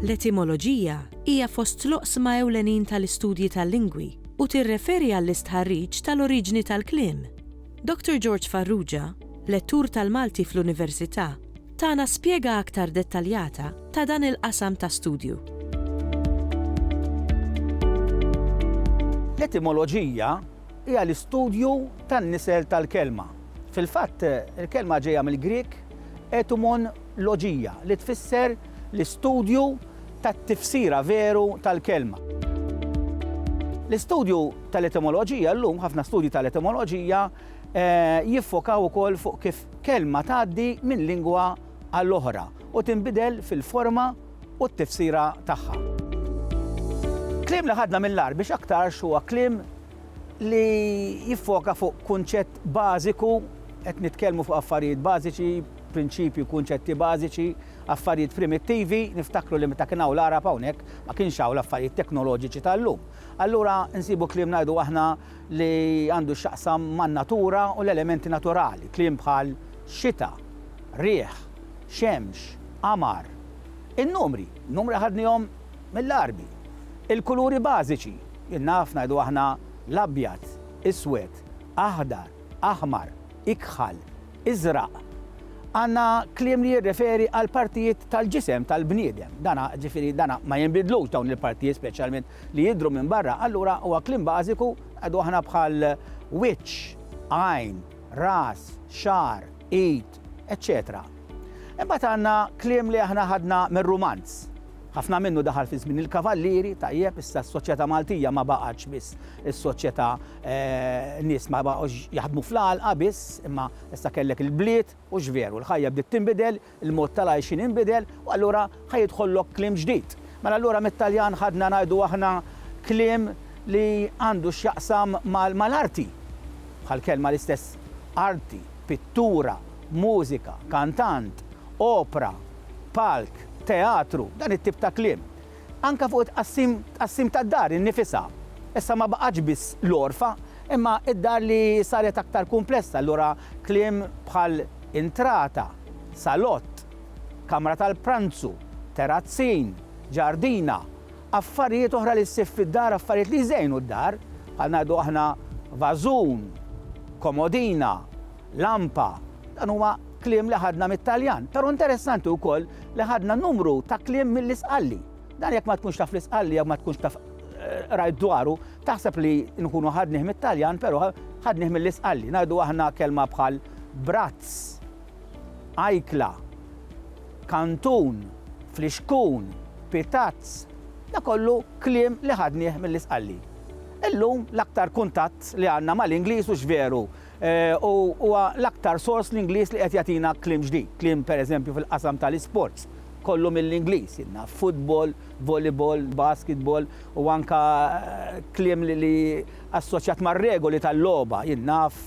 L-etimoloġija hija fost l-oqsma ewlenin tal-istudji tal-lingwi u tirreferi għall-istħarriġ tal-oriġni tal-kliem. Dottor George Farrugia, lettur tal-Malti fl-Università, Tana spjega aktar dettaljata ta' dan il-qasam ta' studju. L-etimoloġija hija l-istudju tan-nisel tal-kelma. Fil-fatt, il-kelma ġejja mill-Grieg etumon logia, li tfisser l-istudju tat-tifsira veru tal-kelma. L-istudju tal-etimoloġija llum, ħafna studji tal-etimoloġija, jiffokaw ukoll fuq kif Kelma tgħaddi minn lingwa għal oħra u tinbidel fil-forma u t-tifsira tagħha. Kliem li ħadna mill-Għarbi x'aktarx huwa kliem li jiffoka fuq kunċett bażiku, qed nitkellmu fuq affarijiet bażiċi, prinċipji, kunċetti bażiċi, affarijiet primittivi, niftakru li meta kien hawn l-Għarab hawnhekk ma kienx hawn l-affarijiet teknoloġiċi tal-lum. Allura nsibu kliem ngħidu aħna li għandu x'jaqsam man-natura u l-elementi naturali, kliem bħal xita, riħ, xemx, qamar. In-numri, numri ħadnihom mill-Għarbi. Il-kuluri bażiċi, jien naf ngħidu aħna l-abjad, iswed, aħdar, aħmar, ikħal, iżraq. Għandna kliem li jirreferi għall-partijiet tal-ġisem tal-bniedem, dan jiġifieri dan ma jinbidlux dawn il-partijiet speċjalment li jidhru minn barra, allura huwa kliem bażiku, ngħidu aħna bħal wiċċ, għajn, ras, xagħar, id, eċċetera. Imbagħad għandna kliem li aħna ħadna mir-rumanz. Ħafna minnu daħal fi żmien il-kavallieri, tajjeb, issa s-soċjetà Maltija ma baqgħetx biss is-soċjetà nies ma baqgħux jaħdmu fl-għalqa biss, imma issa kellek il-bliet u x'veru l-ħajja bdiet tinbidel, Il-mod tal-għajxien inbidel u allura ħa jidħollok kliem ġdid. Mela allura mit-Taljan ħadna ngħidu aħna kliem li għandu x'jaqsam mal-arti. Bħall-kelma l-istess arti, pittura, mużika, kantant, opra, palk, teatru, dan it-tip ta' kliem. Anke fuq it-tqassim tqassim tad-dar innifisha. Issa ma baqgħetx biss l-għorfa, imma d-dar li saret aktar kumplessa, allura kliem bħal intrata, salott, kamra tal-pranzu, terazzin, ġardina, affarijiet oħra li ssib fid-dar, affarijiet li jżejnu d-dar, bħal ngħidu aħna vażun, komodina, Lampa, dan huwa kliem li ħadna mit-Taljan, però interessanti wkoll li ħadna numru ta' kliem mill-Isqalli. Dan jekk ma tkunx taf l-Isqalli jew ma tkunx taf qrajt dwaru, taħseb li nkunu ħadnih mit-Taljan, però ħadnih mill-Isqalli. Ngħidu aħna kelma bħal brazz, ajkla, kantun, flixkun, pitazz, da kollu kliem li ħadnih mill-Isqalli. Illum l-aktar kuntatt li għandna mal-Ingliż hux veru U huwa l-aktar sors l-Ingliż li qed jagħtina kliem ġdid, kliem pereżempju fil-qasam tal-isports, kollu mill-Ingliż, jien naf, football, volleyball, basketball u anke kliem li assoċjat mar-regoli tal-logħba, jien naf,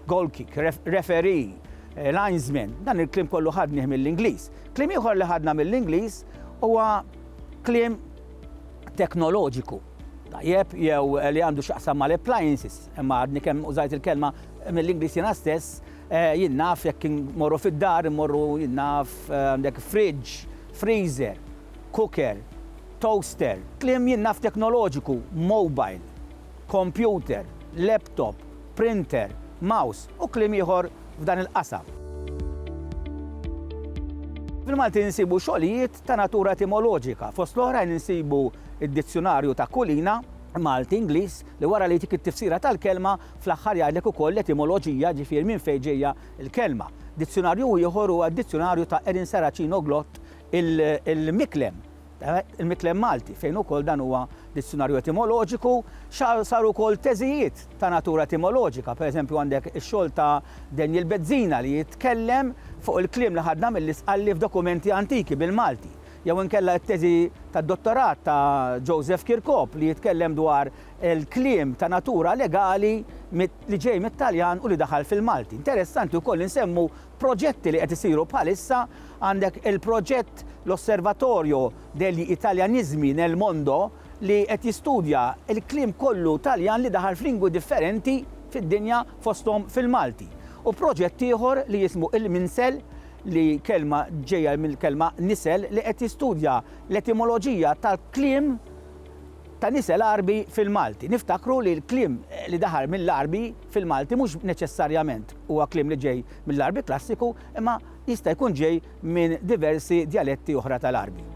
goal kick, referee, linesman, dan il-kliem kollu ħadnih mill-Ingliż. Kliem ieħor li ħadna mill-Ingliż huwa kliem teknoloġiku. tajjeb jew li għandu x'jaqsam mal-appliances, imma għadni kemm użajt il-kelma mill-Ingliż jiena stess, jien naf jekk immorru fid-dar, immorru jien naf għandek fridge, freezer, cooker, toaster, kliem jien naf teknoloġiku, mobile, computer, laptop, printer, mouse u kliem ieħor f'dan il-qasam. Fil-Malti nsibu xogħlijiet ta' natura etimoloġika, fost l-oħrajn insibu id-dizzjunarju ta' kulina, Malti, Ingliż, li wara li jtik it-tifsira tal-kelma, fl-aħħar jgħidlek ukoll l-etimoloġija, ġifieri minn fejn ġejja l-kelma. Dizzjunarju ieħor huwa d-dizzjunarju ta' Erin Saracino Glott il-Miklem, il-Miklem Malti, fejn ukoll dan huwa dizzjunarju etimoloġiku. Saru wkoll teżijiet ta' natura etimoloġika, pereżempju għandek ix-xogħol ta' Daniel Bezzina li jitkellem fuq il-kliem li ħadna mill-Isqalli f'dokumenti antiki bil-Malti. Jew inkella t-teżi tad-dottorat ta' Joseph Kirkop li jitkellem dwar il-kliem ta' natura legali li ġej mit-Taljan u li daħal fil-Malti. Interessanti wkoll li nsemmu proġetti li qed isiru bħalissa, għandek il-proġett l-Osservatorio degli Italianismi nel Mondo li qed jistudja l-kliem kollu Taljan li daħal f'lingwi differenti fid-dinja fosthom fil-Malti. U proġett ieħor li jismu Il-Minsel li kelma ġejja mill-kelma nisel li qed jistudja l-etimoloġija tal-kliem ta' nisel Għarbi fil-Malti. Niftakru li l-kliem li daħal mill-Għarbi fil-Malti mhux neċessarjament huwa kliem li ġej mill-Għarbi klassiku imma jista' jkun ġej minn diversi djaletti oħra tal-Għarbi.